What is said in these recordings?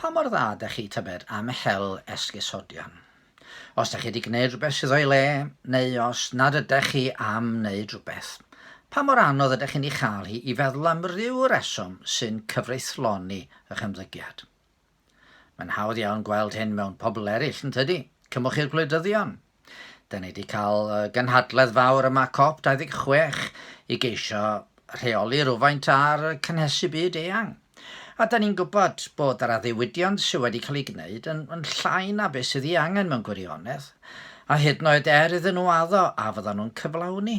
Pa mor dda dach chi tybed am hel esgusodion? Os dach chi wedi gwneud rhywbeth sydd o'i le, neu os nad ydach chi am wneud rhywbeth, pa mor anodd ydych chi'n ei chael hi i feddwl am ryw reswm sy'n cyfreithloni eich ymddygiad? Mae'n hawdd iawn gweld hyn mewn pobl eraill, yn tydi? Cymwch i'r gwleidyddion, Da ni wedi cael gynhadledd fawr yma COP26 i geisio rheoli rhywfaint ar cynhesu byd eang. A da ni'n gwybod bod yr addewidion sydd wedi cael ei gwneud yn, yn llai na beth sydd ei angen mewn gwirionedd, a hyd yn oed er iddyn nhw addo a fyddan nhw'n cyflawni.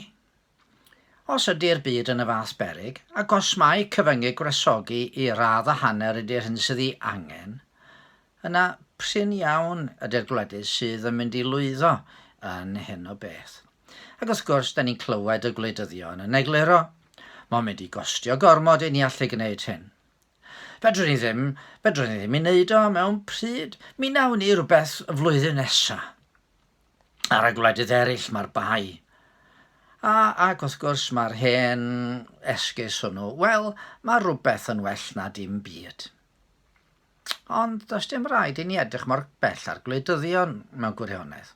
Os ydi'r byd yn y fath beryg, ac os mae cyfyngig gwresogi i radd a hanner ydi'r hyn sydd ei angen, yna prin iawn ydi'r gwledydd sydd yn mynd i lwyddo yn hyn o beth. Ac wrth gwrs, 'da ni'n clywed y gwleidyddion yn egluro, 'Mae'n mynd i gostio gormod i ni allu gwneud hyn. Fedrwn ni ddim, fedrwn ni ddim ei wneud o mewn pryd, mi wnawn ni rywbeth y flwyddyn nesaf. ar y gwledydd eraill mae'r bai. A, ac wrth gwrs mae'r hen esgus hwnnw, wel, mae rhywbeth yn well na dim byd. Ond does dim rhaid i ni edrych mor bell ar gwleidyddion mewn gwirionedd.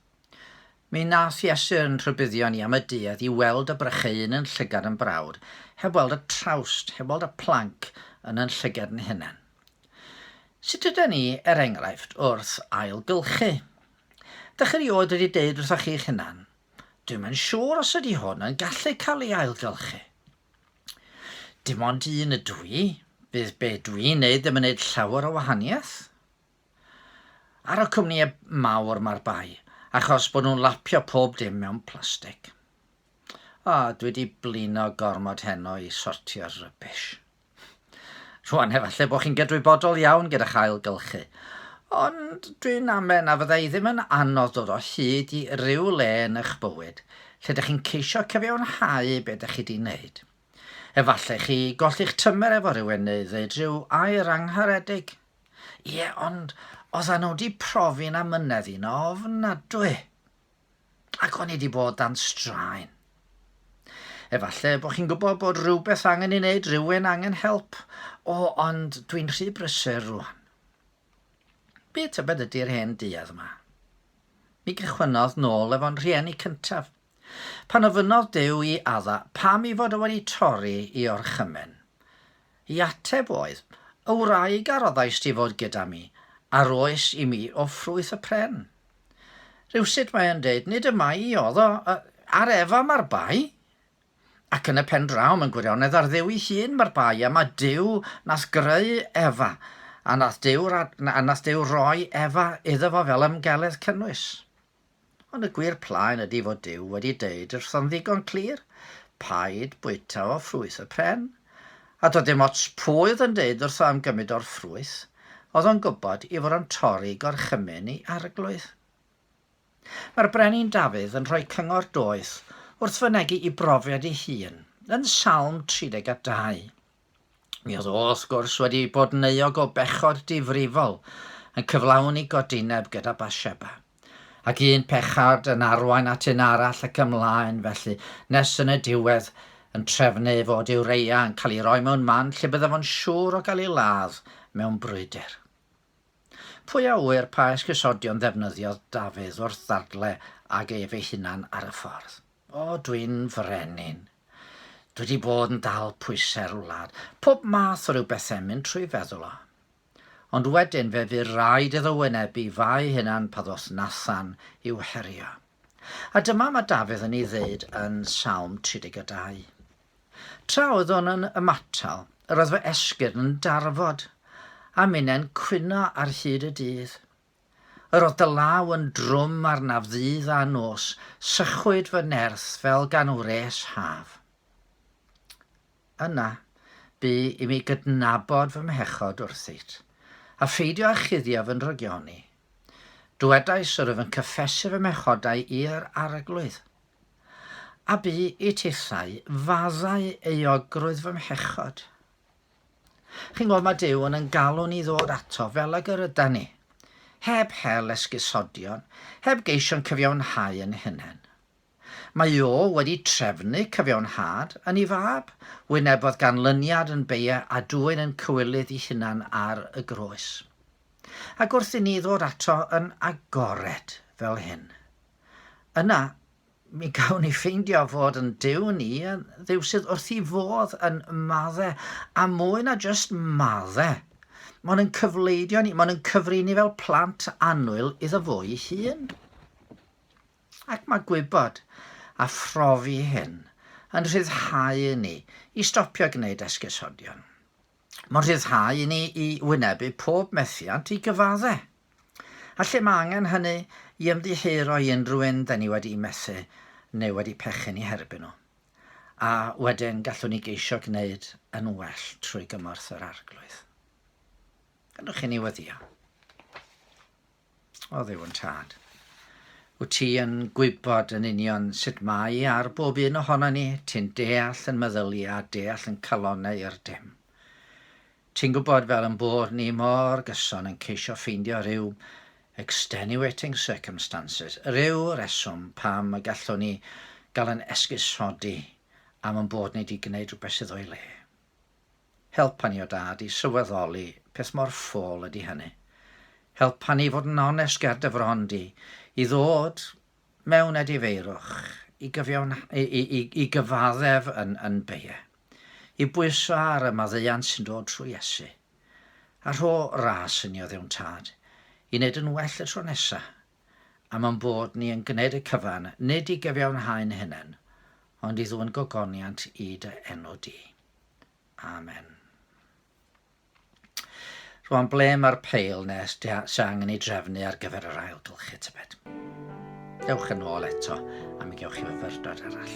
Mi nath Iesu yn rhybuddio ni am y duedd i weld y brycheun yn llygad yn brawd, heb weld y trawst, heb weld y planc yn yn llygad yn hunain. Sut ydyn ni, er enghraifft, wrth ailgylchu? Dach chi rioed wedi deud wrthoch chi'ch hunan, 'Dwi'm yn siŵr os ydy hwn yn gallu cael ei ailgylchu. Dim ond un ydw i, bydd be dwi'n neud ddim yn neud llawer o wahaniaeth. Ar y cwmnïau mawr mae'r bai, achos bod nhw'n lapio pob dim mewn plastig. O, dwi wedi blino gormod heno i sortio'r rubbish. Rwan, efallai bod chi'n gydwybodol iawn gyda'ch ailgylchu, ond dwi'n amen na fyddai ddim yn anodd dod o hyd i ryw le yn eich bywyd lle ydych chi'n ceisio cyfiawnhau beth ydych chi wedi wneud. Efallai chi golli'ch tymer efo rhywun neu ddweud rhyw air angharedig. Ie, ond oedden nhw wedi profi na mynedd i'n ofnadwy. Ac o'n i wedi bod dan straen. Efallai bod chi'n gwybod bod rhywbeth angen ei wneud, rhywun angen help. O, ond dwi'n rhy brysur rwan. Be tybed ydy'r hen duedd yma? Mi gychwynnodd nôl efo'n rhieni cyntaf. Pan ofynnodd Dyw i Adda pam i fod o wedi torri i orchymyn. I ateb oedd, Y wraig a roddais ti fod gyda mi, a'r oes i mi o ffrwyth y pren. Rywsut mae e'n deud, nid y mae i oedd o, ar Efa mae'r bai, ac yn y pen draw mae'n gwirionedd ar Dduw ei hun mae'r bai, a mae Duw nath greu Efa, a nath Duw, a nath Duw roi Efa iddo fo fel ymgeledd cynnwys. Ond y gwir plaen ydy fod Duw wedi deud wrtho'n ddigon clir, paid bwyta o ffrwyth y pren, A doedd dim ots pwy oedd yn deud wrtho am gymryd o'r ffrwyth, oedd o'n gwybod i fod o'n torri gorchymyn ei arglwydd. Mae'r Brenin Dafydd yn rhoi cyngor doeth wrth fynegi i brofiad ei hun yn Salm 32. Mi oedd o, wrth gwrs, wedi bod yn euog o bechod difrifol, yn cyflawni godineb gyda Bathsheba. Ac un pechard yn arwain at un arall ac ymlaen felly, nes yn y diwedd yn trefnu ei fod Iwreia yn cael ei roi mewn man lle byddaf o'n siŵr o gael ei ladd mewn brwydr. Pwy a ŵyr pa esgusodion ddefnyddiodd Dafydd wrth ddadle ag ef ei hunan ar y ffordd. O, dwi'n frenin. Dwi 'di bod yn dal pwysau'r wlad. Pob math o ryw bethe'n mynd trwy feddwl o. Ond wedyn fe fu'r raid iddo wynebu fa'i hunan pa ddos nathan i'w herio. A dyma ma Dafydd yn ei ddeud yn Salm 32. Tra oeddwn yn ymatal, yr oedd fy esgyrn yn darfod, a minnen cwyno ar hyd y dydd. Yr oedd dy law yn drwm arnaf ddydd a nos, sychwyd fy nerth fel gan wres haf. Yna, bu i mi gydnabod fy mhechod wrthyt, a pheidio â chuddio fy nrygion i. Dywedais yr wyf yn cyffesu fy mhechodau i'r Arglwydd. A bu i tithau faddau euogrwydd fy mhechod. Chi'n gwybod, mae Duw yn yn galw ni ddod ato fel ag yr yda ni, heb hel esgusodion, heb geisio'n cyfiawnhau yn hunain. Mae o wedi trefnu cyfiawnhad yn ei fab, wynebodd ganlyniad yn beie a dwyn yn cywilydd i hunan ar y groes. Ac wrth i ni ddod ato yn agored fel hyn, yna mi gawn ni ffeindio fod yn Duw ni yn Dduw sydd wrth i fodd yn madde, a mwy na jyst madde. Mae'n yn cyfleidio ni, mae'n yn cyfri ni fel plant annwyl iddo fo'i hun. Ac mae gwybod a phrofi hyn yn rhyddhau i ni i stopio gwneud esgusodion. Mae'n rhyddhau i ni i wynebu pob methiant i gyfadde'. A lle mae angen hynny i ymddiheuro i unrhyw un 'da ni wedi methu neu wedi pechu'n ei herbyn nhw. A wedyn gallwn ni geisio gwneud yn well trwy gymorth yr Arglwydd. Gadewch i ni weddïo. O ddew yn tad. Wyt ti yn gwybod yn union sut mae ar bob un ohono ni, ti'n deall yn meddylia a deall yn calonau i'r dim. Ti'n gwybod fel yn bod ni mor gyson yn ceisio ffeindio rhyw extenuating circumstances, rhyw reswm pam y gallwn ni gael yn esgusodi am yn bod ni wedi gwneud rhywbeth sydd o'i le. Helpa ni, o Dad, i sylweddoli peth mor ffôl ydy hynny. Helpa ni fod yn onest ger dy fron di, i ddod mewn edifeirwch, i, gyfiawn, i, i, i gyfaddef yn, yn beie, i bwyso ar y maddeuant sy'n dod trwy Iesu. A rho ras yn i o ddewn tad, i wneud yn well y tro nesaf, am ein bod ni yn gwneud y cyfan, nid i gyfiawnhau'n hunain, ond i ddwyn gogoniant i dy enw di. Amen. Rwan, ble mae'r peil nes sy'n angen ei drefnu ar gyfer yr ailgylchu tybed? Dewch yn ôl eto am i gewch chi fyfyrdod arall.